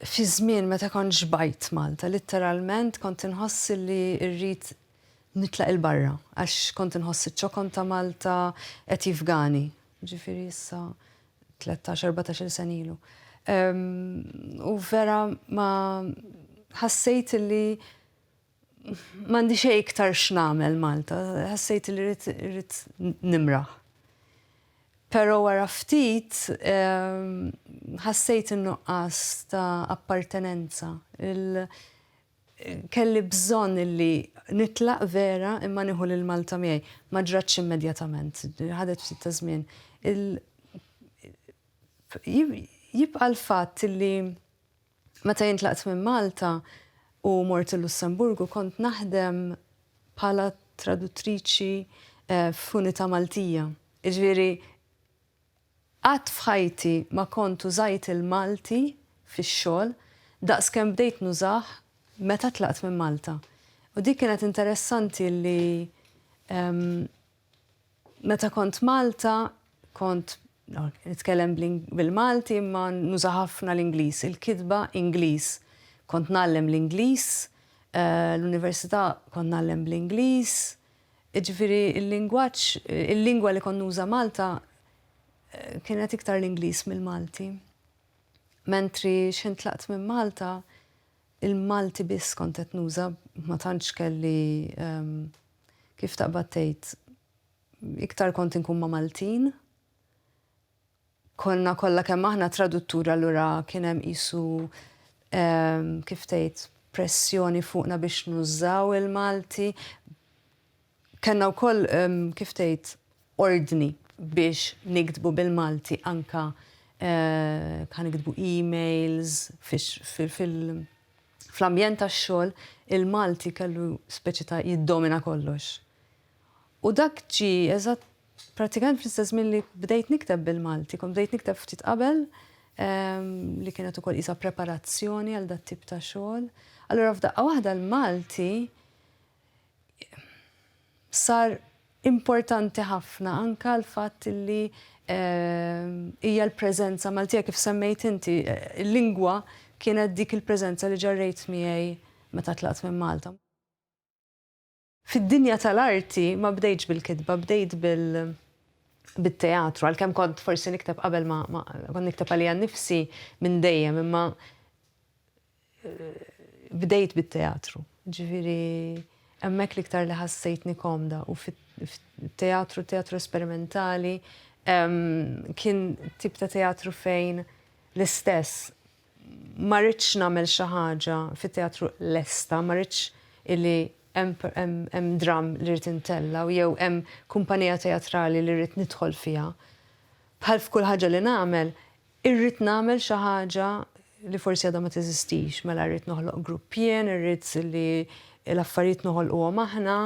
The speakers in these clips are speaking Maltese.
Fi żmien meta kont xbajt Malta litteralment kont inħoss li rrid nitlaq 'il barra għax kont inħoss iċ-ċokon ta' Malta qed jifgani, jiġifieri issa tlettax, erbatax-il sena ilu. U vera ma ħassejt li M'għandi xejn iktar x'nagħmel Malta, ħassejt li rrid nimraħ. Però wara ftit ħassejt in-nuqqas ta' appartenenza. Kelli bżonn li nitlaq vera imma nieħu lil Malta miegħi. Ma ġratx immedjatament, ħadet ftit ta' żmien. Jibqa' l-fatt li. Meta jien tlaqt minn Malta u mort il-Lussemburgu kont naħdem bħala traduttriċi f'unità Maltija. Jiġifieri qatt f'ħajti ma kont użajt il-Malti fix-xogħol daqs kemm bdejt nużah meta tlaqt minn Malta. U dik kienet interessanti li Meta kont Malta kont nitkellem bil-Malti imma nuża ħafna l-Ingliż, il-kitba Ingliż. Kont ngħallem l-Ingliż, l-Università kont ngħallem bl-Ingliż, jiġifieri l-lingwaġġ, il-lingwa li kont nuża Malta kienet iktar l-Ingliż mill-Malti. Mentri x'ħin tlaqt minn Malta, il-Malti biss kont qed nuża, ma tantx kelli Kif taqbad tgħid, iktar kont inkun ma' Maltin. Konna kollha kemm aħna tradutturi allura kien hemm qisu kif tgħid pressjoni fuqna biex nużaw il-Malti. Kellna wkoll kif tgħid ordni biex niktbu bil-Malti anke kan niktbu emails fil-, Fl-ambjent tax-xogħol, il-Malti kellu speċi ta' jiddomina kollox. U dak ġie eżatt prattikament fl-istess żmien li bdejt nikteb bil-Malti, kont bdejt nikteb ftit qabel ehm, li kienet ukoll isa preparazzjoni għal dat tip ta' xogħol. Allura f'daqqa waħda l-Malti Sar importanti ħafna anke l-fatt li hija l-preżenza Maltija kif semmejt inti, il-lingwa kienet dik il-preżenza li ġarrejt miegħi meta tlaqt minn Malta. Fid-dinja tal-arti ma bdejtx bil-kitba, bdejt bit-teatru, għalkemm kont forsi nikteb qabel ma kont nikteb għalija nnifsi minn dejjem imma bdejt bit-teatru. Ġifieri hemmhekk l-iktar li ħassejtni komda u fit-teatru, teatru esperimentali, kien tip ta' teatru fejn l-istess ma ridtx nagħmel xi ħaġa fit-teatru lesta, ma ridtx illi hemm dramm li rrid intella' jew hemm kumpanija teatrali li rrid nidħol fiha. Bħal f'kull ħaġa li nagħmel, Irrid nagħmel xi ħaġa li forsi għadha ma teżistix, mela rrid noħloq grupp jien, irrid li l-affarijiet noħolquhom aħna.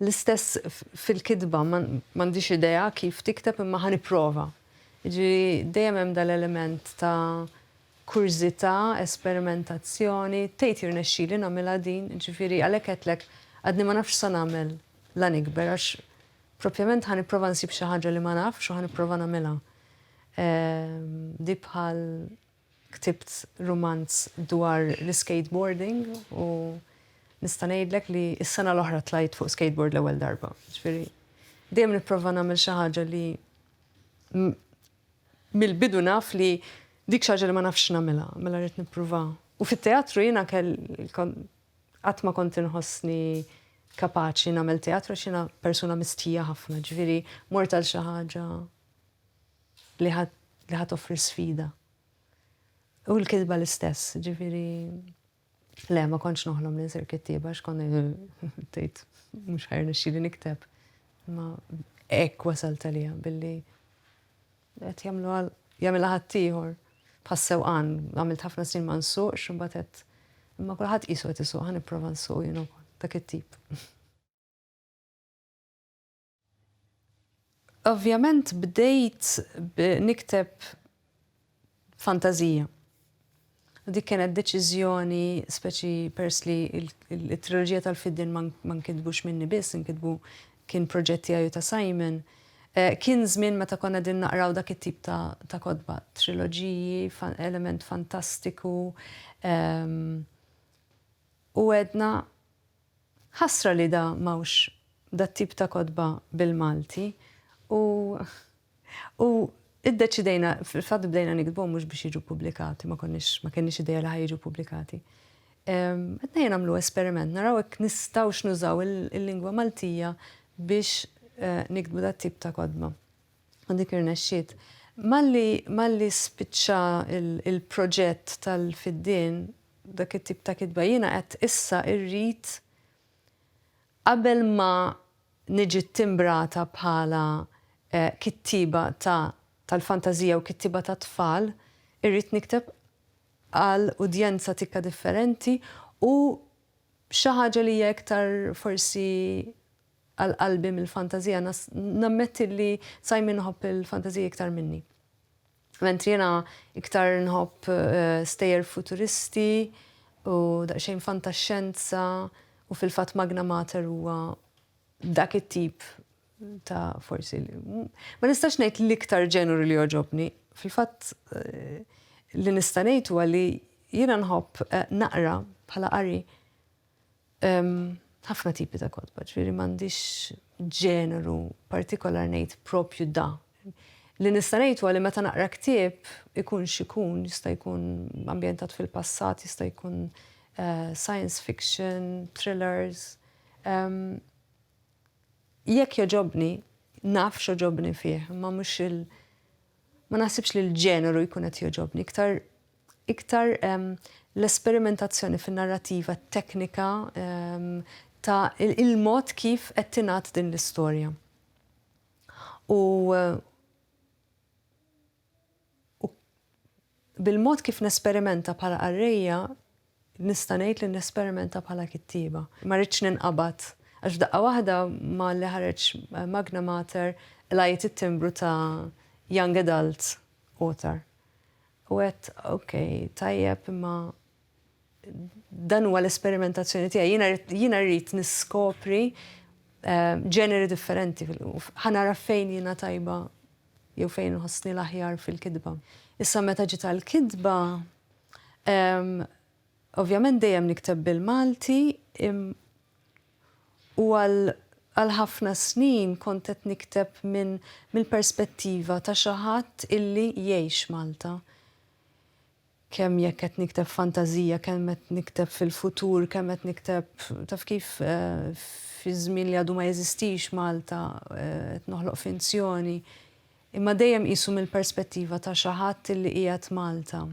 L-istess fil-kitba, m'għandix idea kif tikteb imma ħa nipprova. Jiġifieri dejjem hemm dal-element ta' kurżità, esperimentazzjoni, tgħid jirnexxili nagħmilha din, jiġifieri għalhekk għedtlek għadni ma nafx x'sa nagħmel la nikber għax Propjament ħa nipprova nsib xi ħaġa li ma nafx u ħa nipprova nagħmilha. Di bħal ktibt rumanz dwar l-iskateboarding u nista' ngħidlek li s-sena l-oħra tlajt fuq skateboard l-ewwel darba. Ġifieri dejjem nipprova nagħmel xi ħaġa li mill-bidu naf li dik xi ħaġa li ma nafx nagħmilha, mela rrid nipprova. U fit-teatru jiena Qatt ma kont inħossni kapaċi nagħmel teatru għax jiena persuna mistħija ħafna, ġifieri mort għal xi ħaġa li ħadd offri sfida. U l-kitba l-istess, ġifieri le ma kontx noħlom li nsir kittieba għax kont tgħid mhux ħajr nixxieli nikteb. Ma hekk wasalt għalija billi Li qed jagħmluha jagħmilha ħaddieħor. Bħas-sewqan, għamilt ħafna snin ma nsuqx, imbagħad għedt, imma kulħadd qisu qed isuq, ħa nipprova nsuq jien ukoll. Dak it-tip. Ovvjament bdejt nikteb fantażija. U dik kienet deċiżjoni speċi pers li t-triloġija tal-Fiddin ma nkitbux minni biss, inkitbu kien proġett tiegħi u ta' Simon. Eh, kien żmien meta konna din naqraw dak it-tip ta' kodba, triloġiji, element fantastiku. Ehm, u għedna Ħasra li da m'hawnx dat-tip ta' kotba bil-Malti u u iddeċidejna, fil-fatt bdejna niktbuhom mhux biex jiġu ppubblikati, ma konniex ma kenniex idea li ħa jiġu ppubblikati. Qed ngħid nagħmlu esperiment, naraw hekk nistgħux nużaw il-lingwa Maltija biex niktbu dat-tip ta' kotba. U dik irnexxiet. Malli malli spiċċa il-proġett tal-fiddien, dak it-tip ta' kitba jiena qed issa irrid qabel ma niġi ttimbrata bħala kittieba ta' tal-fantażija u kittieba tat-tfal irrid nikteb għal udjenza tikka differenti u xi ħaġa li hija iktar forsi għal qalbi mill-fantażija nammetti li sa jmien iħobb il-fantażija iktar minni. Mentri jiena iktar nħobb stejjer futuristi u daqsxejn fantaxxenza u fil-fatt Magna Mater huwa dak it-tip ta' forsi ma nistax ngħid l-iktar ġeneru li jogħġobni. Fil-fatt li nista' ngħid huwa li jiena nħobb naqra bħala qari Hemm ħafna tipi ta' kotba, ġifieri m'għandix ġeneru partikolar ngħid proprju da. Li nista' ngħid huwa li meta naqra ktieb, ikun x'ikun, jista' jkun ambjentat fil-passat, jista' jkun science fiction, thrillers, jekk jogħġobni, naf x'għoġobni fih, imma mhux il-, ma naħsibx li l-ġeneru jkun qed jogħġobni, iktar Iktar l-esperimentazzjoni fin-narrativa teknika ta' il-mod kif qed tingħad din l-istorja. U bil-mod kif nesperimenta bħala qarrejja, Nista' ngħid li nesperimenta bħala kittieba. Ma ridtx ninqabad, għax f'daqqa waħda malli ħareġ Magna Mater qlajt it-timbru ta' Young Adult Author. U għedt, ok, tajjeb imma dan huwa l-esperimentazzjoni tiegħi. Jiena rrid, jiena rrid niskopri ġeneri differenti. Ħa nara fejn jiena tajba. jew fejn inħossni l-aħjar fil-kitba. Issa meta ġiet għall-kitba, ovvjament dejjem nikteb bil-Malti u għal ħafna snin kont qed nikteb minn mill-perspettiva ta' xi ħadd illi jgħix Malta. Kemm jekk qed nikteb fantażija, kemm qed nikteb fil-futur, kemm qed nikteb, taf kif, fi żmien li għadu ma jeżistix, Malta, qed noħloq finzjoni. Imma dejjem qisu mill-perspettiva ta' xi ħadd li qiegħed Malta.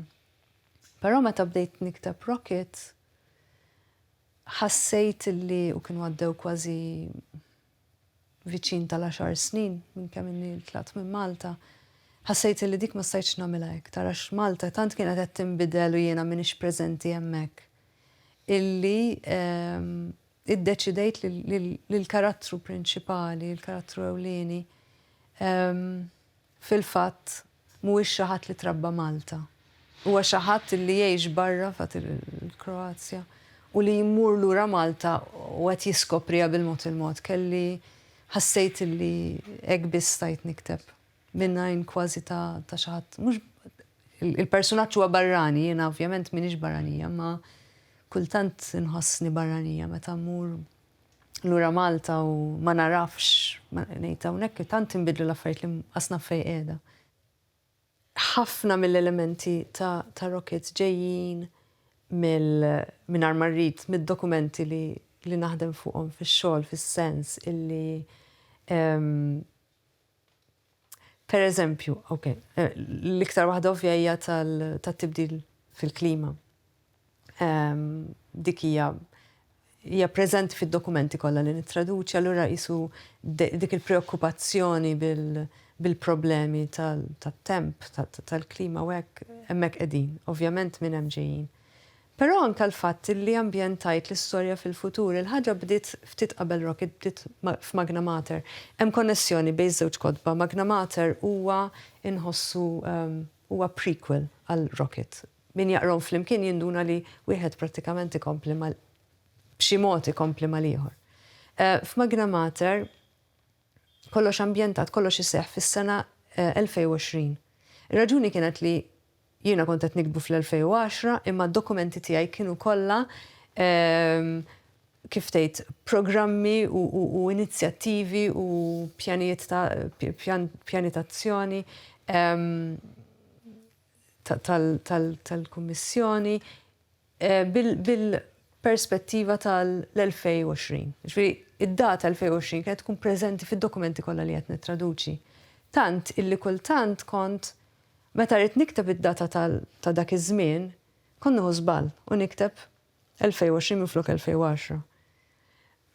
Però meta bdejt nikteb Rocket, ħassejt li, u kienu għaddew kważi viċin tal-għaxar snin minn kemm inni tlaqt minn Malta, ħassejt illi dik ma stajtx nagħmilha iktar għax Malta tant kienet qed tinbidel u jiena m'iniex preżenti hemmhekk, illi iddeċidejt li l-karattru prinċipali, il-karattru ewlieni, Fil-fatt, mhuwiex xi ħadd li trabba Malta. Huwa xi ħadd li jgħix barra f'għad il-Kroazja u li jmur lura Malta u qed jiskopriha bil-mod il-mod. Kelli, ħassejt li hekk biss stajt nikteb, mingħajn kważi ta' ta' xi ħadd, mhux, il-persunaġġ huwa barrani, jiena ovvjament m'iniex barranija, imma kultant inħossni barranija meta mmur lura Malta u ma nagħrafx, ngħid hawnhekk tant inbidlu l-affarijiet li qas naf fejn qiegħda. Ħafna mill-elementi ta' Rockets ġejjin mill, mingħajr ma rrid, mid-dokumenti li naħdem fuqhom fix-xogħol fis-sens illi Per eżempju, ok, l-iktar waħda ovvja hija tat-tibdil fil-klima. Ehm, dik hija hija preżenti fid-dokumenti kollha li nittraduċi, allura qisu dik il-preokkupazzjoni bil-problemi tat-temp, tal-klima u hekk hemmhekk qegħdin. Ovvjament minn hemm ġejjin. Però anke l-fatt li ambjentajt l-istorja fil-futur, il-ħaġa bdiet ftit qabel Rocket, bdiet f'Magna Mater. Hemm konnessjoni bejn iż-żewġ kotba, Magna Mater huwa inħossu huwa prequel għal Rocket. Min jaqrahom flimkien jinduna li wieħed prattikament ikompli mal b'xi mod ikompli mal-ieħor. F'Magna Mater Kollox ambjentat, kollox iseħħ fis-sena 2020. Ir-raġuni kienet li jiena kont qed niktbu fl-2010 imma d-dokumenti tiegħi kienu kollha kif tgħid programmi u inizjattivi u pjanijiet ta' pjani ta' azzjoni tal-Kummissjoni bil-perspettiva tal-2020. Jiġifieri, id-data 2020 kienet tkun preżenti fid-dokumenti kollha li qed nittraduċi. Tant illi kultant kont, meta rrid nikteb id-data ta' dak iż-żmien, kont nieħu żball u nikteb 2020 minflok 2010.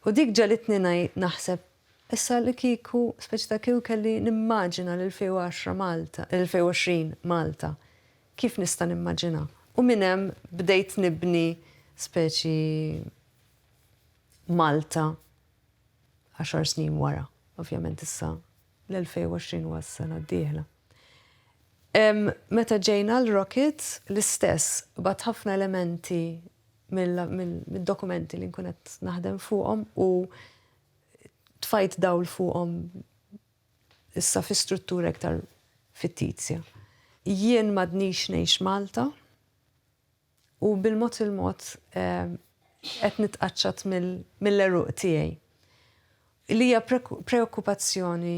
U dik ġegħlitni naħseb, issa li kieku, speċi ta' kieku kelli nimmaġina l-2010 Malta, l-2020 Malta, kif nista' nimmaġinha? U minn hemm bdejt nibni speċi Malta għaxar snin wara. Ovvjament issa l-2020 huwa s-sena d-dieħla. Meta ġejna l-Rockets, l-istess, bgħadt ħafna elementi mid-dokumenti li nkun qed naħdem fuqhom u tfajt dawl fuqhom issa fi struttura iktar fittizja. Jien m'għadnix ngħix Malta u bil-mod il-mod qed nitqaċċat mill-għeruq tiegħi. li hija preokkupazzjoni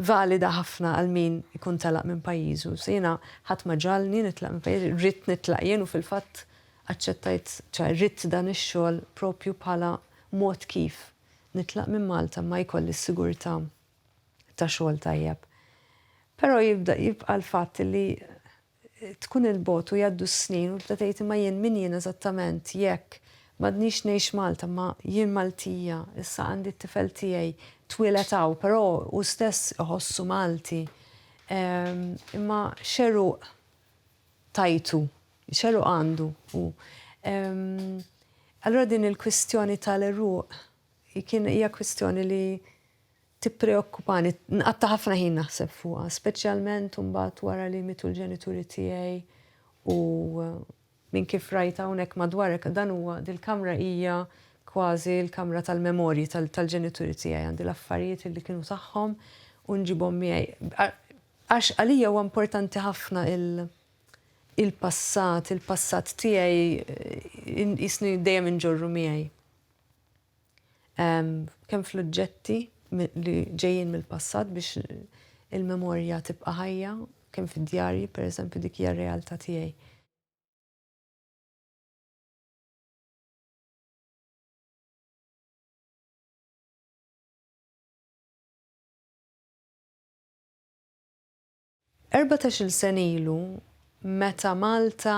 valida ħafna għal min ikun telaq minn pajjiżu. Jiena ħadd ma ġagħalni nitlaq minn pajjiżi, ridt nitlaq jien u fil-fatt aċċettajt, ċoe ridt dan ix-xogħol proprju bħala mod kif nitlaq minn Malta imma jkolli s-sigurtà ta' xogħol tajjeb. Però jibda jibqa' l-fatt li Tkun 'il bogħod u jgħaddu s-snin u tibda tgħid imma jien min jien eżattament jekk m'għadnix ngħix Malta imma jien Maltija, issa għandi t-tifel tiegħi twieled hawn però hu stess iħossu Malti. Imma x'għeruq tajtu? X'għeruq għandu hu? Allura din il-kwistjoni tal-għeruq kien hija kwistjoni li. tippreokkupani, nqatta' ħafna ħin naħseb fuqha, speċjalment imbagħad wara li mietu l-ġenituri tiegħi u minn kif rajt hawnhekk madwar hekk dan huwa dil-kamra hija kważi l-kamra tal-memorji tal-ġenituri tiegħi, għandi l-affarijiet li kienu tagħhom u nġibhom miegħi. Għax għalija huwa importanti ħafna il-passat, il-passat tiegħi qisni dejjem inġorru miegħi. kemm fl-oġġetti li ġejjin mill-passat biex il-memorja tibqa' ħajja, kemm fid-djarji, pereżempju dik hija r-realtà tiegħi. Erbatax-il sena ilu meta Malta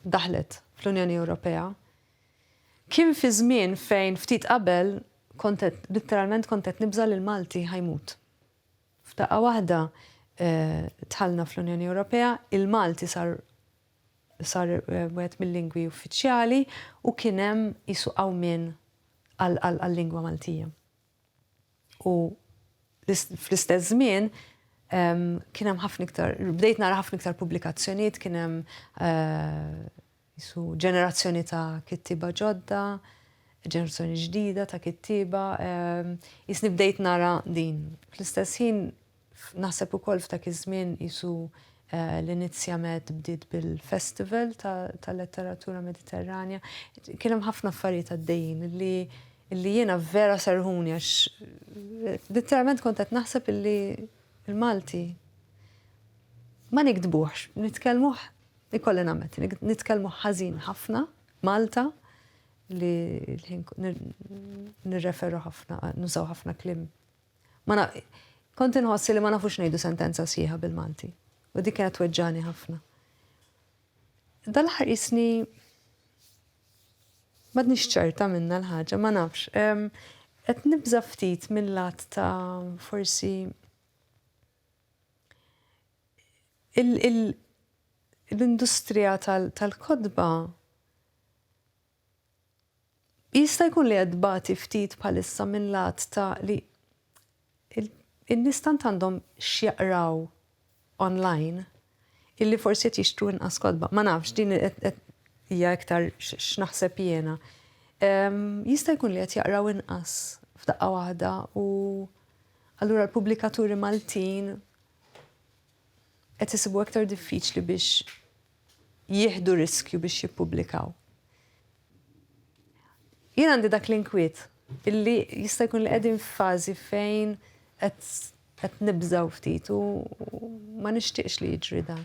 daħlet fl-Unjoni Ewropea, kien fi żmien fejn ftit qabel kont qed, litteralment kont qed nibża' li l-Malti ħa jmut. F'daqqa waħda dħalna fl-Unjoni Ewropea, il-Malti sar sar wieħed mil-lingwi uffiċjali u kien hemm qisu qawmien għal-lingwa Maltija. u fl-istess żmien kien hemm ħafna iktar, bdejt nara ħafna iktar pubblikazzjonijiet, kien hemm jisu ġenerazzjoni ta' kittiba ġodda, ġenerazzjoni ġdida ta' kittiba, jisni bdejt nara din. Fl-istess ħin Naħseb ukoll f'dak iż-żmien qisu l-inizjamet bdiet bil-Festival tal-Letteratura Mediterranja. Kien hemm ħafna affarijiet għaddejjin li li jiena vera serħuni għax letteralment kont qed naħseb illi l-Malti ma nikdbuhx, nitkellmuh ikolli nagħmel, nitkellmu ħażin ħafna Malta li nirreferu ħafna, nużaw ħafna kliem Ma na, kont inħoss li ma nafux ngħidu sentenza sħiħa bil-Malti. U dik kienet tweġġani ħafna. Dal-aħħar isni madnix ċerta minna l-ħaġa, ma nafx. Qed nibża ftit mill-lat ta' forsi l-industrija tal-kodba Jista' jkun li qed tbati ftit bħalissa minn lat ta' li n-nies tant għandhom x'jaqraw online illi forsi qed jixtru inqas kotba. Ma nafx, din hija iktar x'naħseb jiena. Jista' jkun li qed jaqraw inqas f'daqqa waħda u allura l-pubblikaturi Maltin qed isibu iktar diffiċli biex jieħdu riskju biex jippubblikaw. Jien għandi dak l-inkwiet illi jista' jkun li qegħdin f'fażi fejn qed nibżaw ftit u ma nixtieqx li jiġri dan.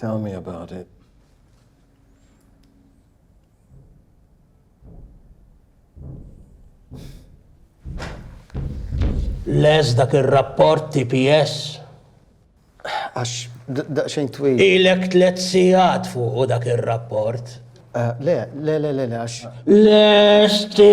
Tell me about it. Les dak ir-rapport TPS. Għax daqsxejn twil. Ilek tliet sigħat fuqu dak ir-rapport. Le, le, le, le, għax. Lesti!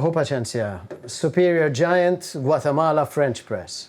Hu paċenzja. Superior Giant, Guatemala, French Press.